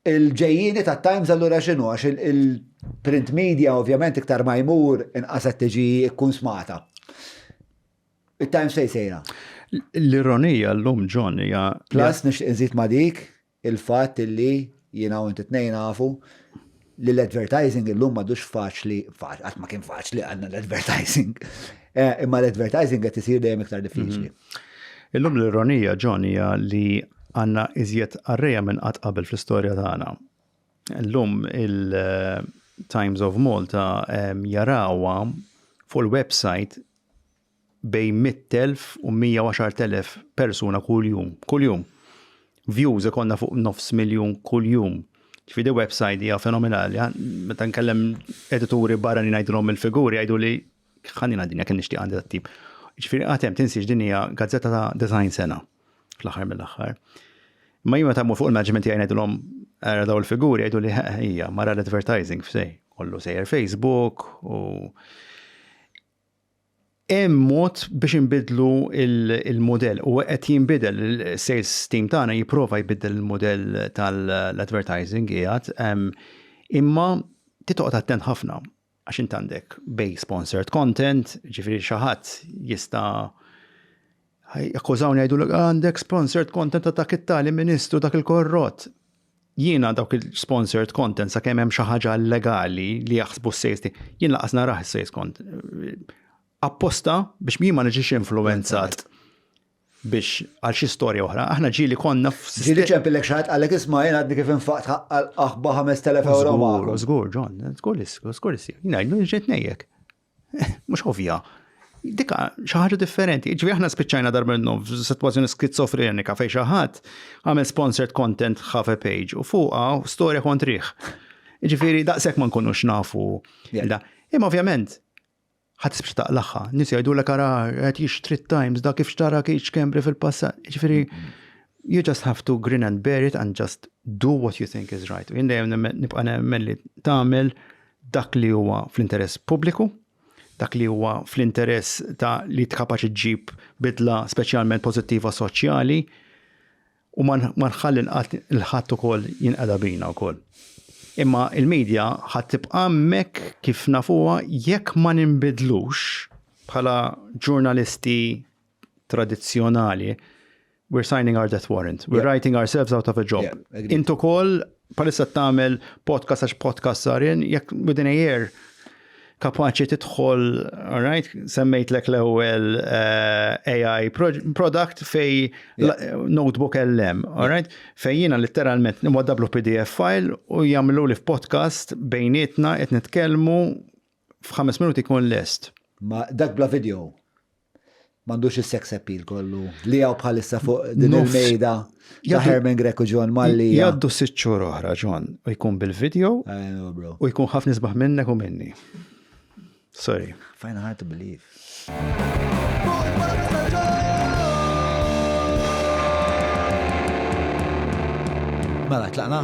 Il-ġejjieni tat-Times allura x'inhu? Għax il-print media ovvjament iktar ma jmur inqas qed tiġi kkunsmata. It-Times fejn sejra? L-ironija llum John hija. Plus nixtieq inżid ma' dik il-fatt illi jiena u inti tnejn nafu li l-advertising illum m'għadux faċli, qatt ma kien faċli għandna l-advertising. Imma l-advertising qed isir dejjem iktar diffiċli. Illum l-ironija, John, hija li għandna iżjed qarrejja minn qatt qabel fl-istorja tagħna. Illum il-Times of Malta ehm, jarawha fuq il-website bejn 100,000 u 110,000 persuna kuljum. Kuljum. Views ikonna fuq nofs miljun kuljum. Ġifieri website hija fenomenali. Meta nkellem edituri barra li ngħidulhom il-figuri jgħidu li Ħallina dinja kien nixtieq għandi tat-tip. Ġifieri għatem tinsiex din hija gazzetta ta' design sena fl-aħħar mill-aħħar. Ma jimma ta' fuq il-management jgħin għedilom għara daw il-figuri għedu li hija mara l-advertising f'sej, kollu sejjer Facebook u hemm mod biex inbidlu il-modell u qed jinbidel il-sales team tagħna jipprova jbiddel il-modell tal-advertising qiegħed imma titoqgħod attent ħafna għax int għandek bej sponsored content, ġifiri xaħat jista jakkużawni għajdu l għandek sponsored content ta' dak it-tali ministru dak il-korrot. Jiena dawk il-sponsored content sa' kemm hemm xi ħaġa legali li jaħsbu s-sejsti, jien laqas naraħ s-sejst kont apposta biex jien ma niġix influenzat. biex għal xi storja oħra, aħna ġili konna f. Ġili ċempillek xi ħadd qalek isma' jien għadni kif infaqt ħaqqa l-aħba 5000 euro magħhom. Żgur, John, żgur li żgur li sir. Ngħidlu ġejt ngħidlek. Mhux ovvja. Dika xi ħaġa differenti. Ġifieri aħna spiċċajna darba n-num f'sitwazzjoni skizofrenika fejn xi ħadd għamel sponsored content ħafe page u fuqha storja kontriħ. Ġifieri daqshekk ma nkunux nafu. Imma ovvjament ħa tisbx taqlaħħa. Nis jgħidulek ara qed jixtri t-Times da kif xtara kiċ kembri fil-passat. Ġifieri you just have to grin and bear it and just do what you think is right. Jien dejjem nibqa' nemmen li tagħmel dak li huwa fl-interess pubbliku, dak li huwa fl-interess ta' li tkapaċi ġib bidla speċjalment pożittiva soċjali, U ma nħalli nqatt il ħadd ukoll jinqeda bina wkoll. Imma il-media ħadd tibqa' hemmhekk kif nafuha jekk ma ninbidlux bħala ġurnalisti tradizzjonali, we're signing our death warrant, we're writing ourselves out of a job. Int ukoll Bħalissa tagħmel podcast għax podcast sar in, jekk within a year kapaċi tidħol, all right, semmejtlek l-ewwel eh, AI product fej notebook LM, all right, fej jiena literalment nimwaddablu PDF file u jagħmlu li f'podcast bejnietna qed nitkellmu f'ħames minuti jkun lest. Ma dak bla video. M'għandux is-sex appeal kollu li hawn bħalissa fuq din il-mejda ta' Herman Grek u John Malli. Jaddu sitt xhur oħra, John, u jkun bil-video u jkun ħafna isbaħ minnek u minni. Sorry. Fajna hard to believe. Mela, tlaqna?